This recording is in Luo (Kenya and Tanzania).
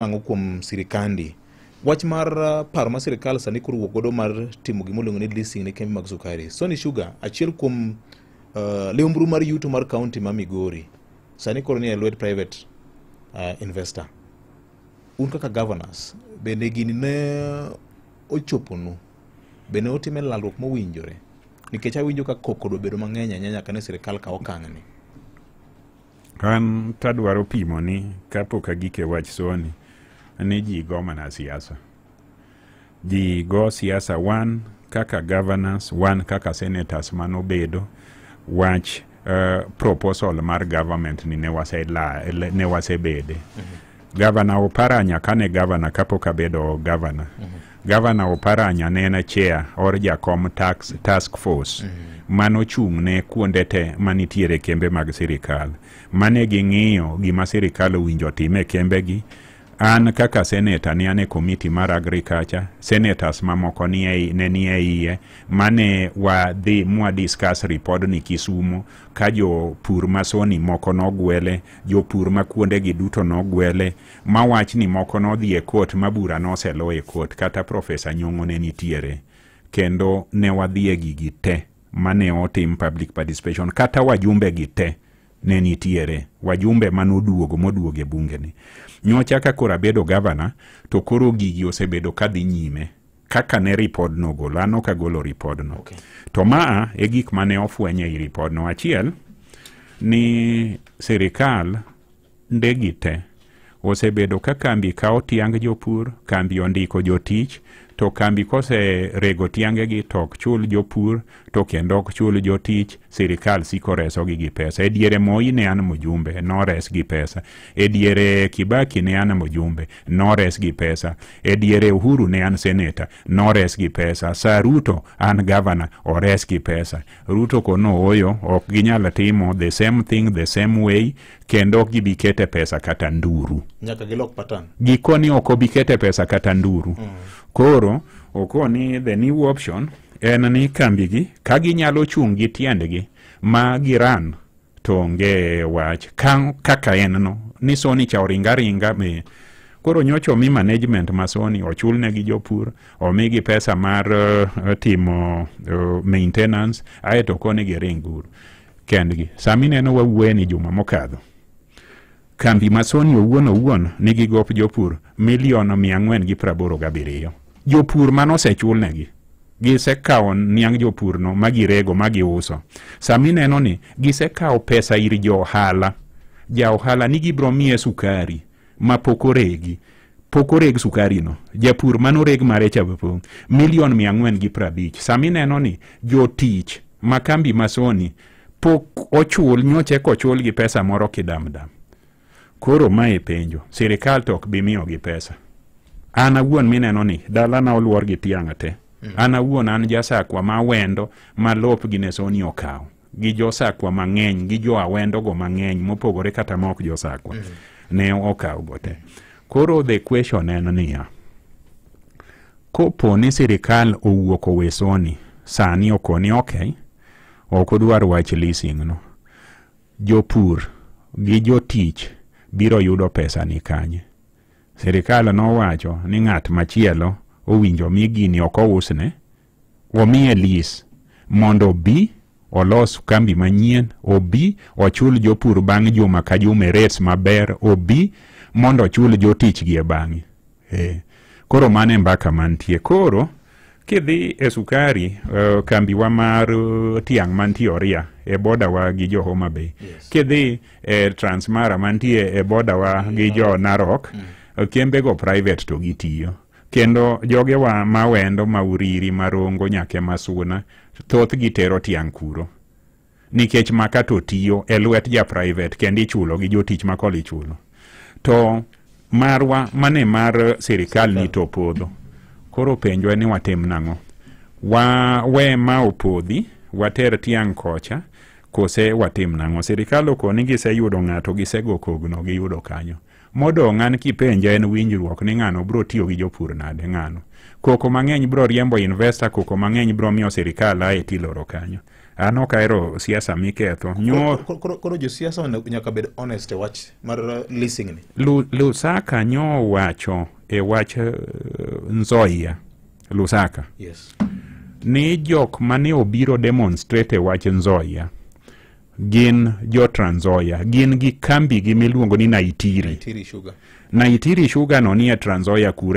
Ang'o kuom sirikandi? Wach mar uh, paro ma sirikal sani koro wuok godo mar timo gima iluongo ni leasing ne kembe mag sukari. Sony Sugar achiel kuom uh, liumbru mar yuto mar kaunti ma Migori sani koro ni e lwet private uh, investor. Un kaka governors bende gini ne ochoponu bende otime lalruok mowinjore nikech awinjo ka koko do bedo mang'eny ahinya nyaka ne sirikal kaw okang'ni. An tadwaro pimo ni kapok agike wach soni ni ji go mana siasa. Ji go siasa wan kaka governors, wan kaka senators manobedo wach uh, proposal mar government ni ne wasebedo. Mm -hmm. Gavana Oparanya kane gavana kapok abedo gavana. Gavana Oparanya ne en chair or jakom tax task force mane ochung' ne kuonde te manitiere kembe mag sirikal. Mane ging'iyo gima sirikal owinjo otim e kembegi. An kaka senator ne an e komiti mar agriculture, senators mamoko ni ei- ne ni e iye mane wadhi mwa discuss ripodni Kisumo ka jopur masoni moko nogwele jopur ma kuondegi duto nogwele ma wach ni moko nodhi e kot ma bura noselo e kot kata profesa nyong'o ne nitiere kendo ne wadhi e gigi te mane otim public participation kata wajumbe gi te ne nitiere wajumbe manoduogo moduogo e bungeni nyocha ka koro abedo gavana to koro gigi osebedo kadhi nyime kaka ne ripodno ogolo an ok agolo ripodno okay. to maa e gik mane ofwenye i ripodno achiel ni sirikal ndegi te osebedo ka kambi kawo tiang jopur kambi ondiko jotich to kambi kose rego tiangegi to ok chul jopur to kendo ok chul jotich sirikal siko resogi gi pesa e diere moi ne an mjumbe nores gi pesa e diere kibaki ne an mjumbe nores gi pesa e diere uhuru ne an seneta nores gi pesa sa ruto an gavana ores gi pesa ruto kono oyo ok ginyal timo the same thing the same way kendo ok gibi kete pesa kata nduru nyaka gilok patan gikoni ok obi kete pesa kata nduru mm. koro okoni the new option en ni kambigi ka ginyalo chung' gi tiendgi ma giran to onge wach ka, kaka en no ni soni cha oringa ringa me koro nyocha omi management ma soni ochulne gi jopur omigi pesa mar uh, timo uh, maintenance aeto koni giring guru kendgi sami neno wawuoye ni juma mokadho Kambi ma Sony owuon owuon nigi gop jopur milion mia ang'wen gi praboro gabiriyo. Jopur mane osechulnegi gisekawo niang' jopurno ma girego ma giuso. Sama ineno ni gisekawo pesa ir jo ohala, ja ohala ni gibiro miye sukari ma pok oregi pok oreg sukarino japur mane oreg mare cha po milion mia ang'wen gi prabich. Sama ineno ni jotich ma kambi ma Sony pok ochul nyoche kochul gi pesa moro kidamdam koro mae penjo sirikal to ok bi miyogi pesa an awuon mineno ni dalana oluor gi tiang'a te an awuon an jasakwa ma wendo ma lop gi nesoni okawo gi josakwa mang'eny gi jo awendogo mang'eny mopogore kata ma ok josakwa ne okawgo te koro the question en niya kopo ni sirikal owuok owesoni sani okoni ok ok odwar wach leasing no jopur gi jotich biro yudo pesa ni kanye sirikal nowacho ni ng'at machielo owinjo mi gini ok ousne omiye lease mondo obi olos kambi manyien obi ochul jopur bang' juma ka juma e rates maber obi mondo ochul jotichgi e bang'e Eh, koro mano e mbaka mantie koro kidhi e sukari uh, kambiwa mar uh, tiang' mantie oria e bodawa gi jo homa bay yes. kidhi e transmara mantie e bodawa mm. gi jo narok mm. Uh, kembego private to gitiyo kendo jogewa mawendo mauriri marongo nyake masuna thoth gitero tiang' kuro nikech maka to tiyo e lwet ja private kendo ichulo gi jotich ma kol ichulo to marwa mane mar sirikal ni to podho koro penjwa ni watim nang'o wa we ma opodhi water tiang' kocha kose watim nang'o sirikal okoni giseyudo ng'ato gisego kogno giyudo kanyo Modong' an kipenja en winjruok ni ng'ano bro tiyo gi jopur nade ng'ano. Koko mang'eny bro riembo investor, koko mang'eny bro miyo sirikal ae tiloro kanyo. An ok ahero siasa miketho. Nyo Koro- koro- Koro josiasa onego- nyaka bed honest e wach mar uh, leasing ni. Lu- Lusaka nyo wacho e wach eh, Nzoia. Lusaka. Yes. ni jok mane obiro demonstrate e wach Nzoia gin jo Trans Nzoia, gin gi kambigi miluongo ni Naitiri. Tiri sugar. Naitiri Sugar no nie Trans Nzoia kure